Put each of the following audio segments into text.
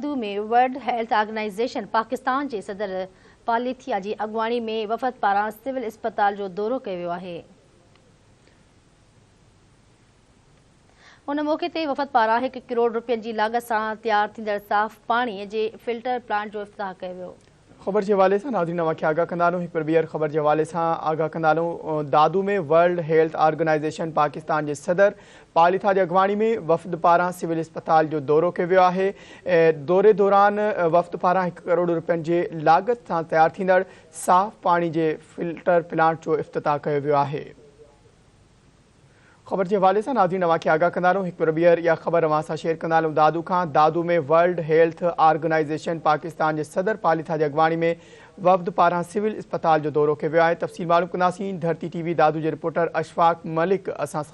Sindhu ۾ World Health Organization Pakistan جي صدر پاليٿيا جي اڳواڻي ۾ وفد پاران سول اسپتال جو دورو ڪيو ويو آهي. ان موقعي تي وفد پاران هڪ ڪروڙ روپين جي لاڳت سان تيار ٿيندڙ صاف پاڻي جي فلٽر پلانٽ جو افتتاح ڪيو ويو. خبر جي حوالي سان ناظرين اوهان کي آگاهه ڪندالون هڪ ڀير ٻيهر خبر جي حوالي سان آگاهه ڪندالون Dadu ۾ World Health Organization Pakistan جي صدر پاليٿا جي اڳواڻي ۾ وفد پاران سول اسپتال جو دورو ڪيو ويو آهي دوري دوران وفد پاران هڪ ڪروڙ رپين جي لاڳت سان تيار ٿيندڙ صاف پاڻي جي فلٽر پلانٽ جو افتتاح ڪيو ويو آهي خبر جي حوالي سان ناظرين اوهان کي آگاهه ڪندا رهون هڪ ڀيرو ٻيهر اها خبر اوهان سان شيئر ڪندا هلون دادو کان Dadu ۾ World Health Organization Pakistan جي صدر پاليٿا جي اڳواڻي ۾ وفد پاران سول اسپتال جو دورو ڪيو ويو آهي تفصيل معلوم ڪنداسين ڌرتي ٽي وي دادو جي رپورٽر اشفاق ملڪ اسان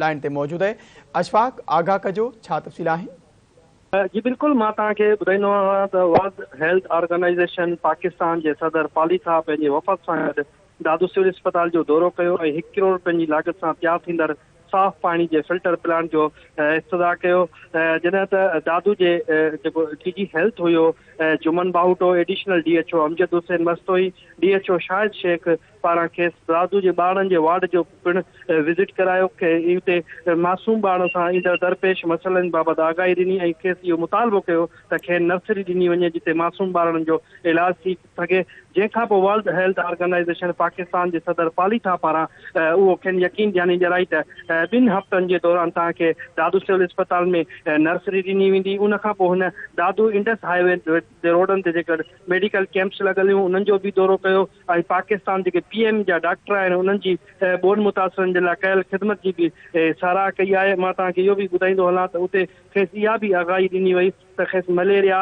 لائن تي موجود آهي اشفاق آگاهه ڪجو ڇا تفصيل آهن جي بلڪل مان توهان کي ٻڌائيندو آهيان ته ورلڊ هيلٿ آرگنائيزيشن پاڪستان جي صدر پاليٿا پنهنجي وفد سان گڏ دادو سول اسپتال جو دورو ڪيو ۽ هڪ ڪروڙ رپين جي لاڳت سان تيار ٿيندڙ صاف پاڻي جي فلٽر پلانٽ جو افتتاح ڪيو جڏهن ته دادو جي جيڪو ڊي جي هيلٿ هيو Juman Bahoto, additional D H O Amjad Hussain Mastoi, D H O Shahid Shaikh پاران کيس دادو جي ٻارڙن جي وارڊ جو پڻ وزٽ ڪرايو ۽ اتي معصوم ٻارڙن سان ايندڙ درپيش مسئلن بابت آگاهي ڏني ۽ کيس اهو مطالبو ڪيو ته کين نرسري ڏني وڃي جتي معصوم ٻارڙن جو علاج ٿي سگهي، جنهن کان پوء ورلڊ هيلٿ آرگنائيزيشن پاڪستان جي صدر پالي ٿا پاران اهو کين يقين ڏياني ڏيرائي ته ٻن هفتن جي دوران توهان کي دادو سول اسپتال ۾ نرسري ڏني ويندي، ان کان پوء هن دادو انڊس هاء وي جي روڊن تي جيڪي ميڊيڪل ڪيمپس لڳل هيون انهن جو به دورو ڪيو ۽ پاڪستان جيڪي پي ايم جا ڊاڪٽر آهن انهن جي ٻوڏ متاثرن جي لاء ڪيل خدمت جي به ساراهه ڪئي آهي، مان توهان کي اهو به ٻڌائيندو هلان ته اتي کيس اها به آگاهي ڏني وئي. ته کيس مليريا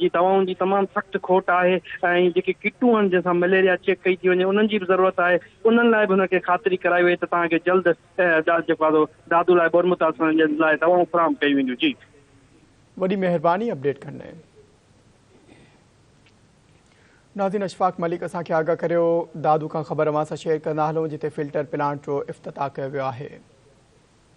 جي دوائن جي تمام سخت کوٽ آهي ۽ جيڪي ڪٽون آهن جن سان مليريا چيڪ ڪئي ٿي وڃي انهن جي به ضرورت آهي انهن لاء به هن کي خاطري ڪرائي وئي ته توهان کي جلد جيڪو آهي سو دادو لاء بورمتا سان جي لاء دوائون فراهم ڪيون وينديون جي. وڏي مهرباني اپڊيٽ ڪرڻ لاء. ناظرين اشفاق ملڪ اسان کي آگاهه ڪريو دادو کان خبر اوهان سان شيئر ڪندا هلون جتي فلٽر پلانٽ جو افتتاح ڪيو ويو آهي.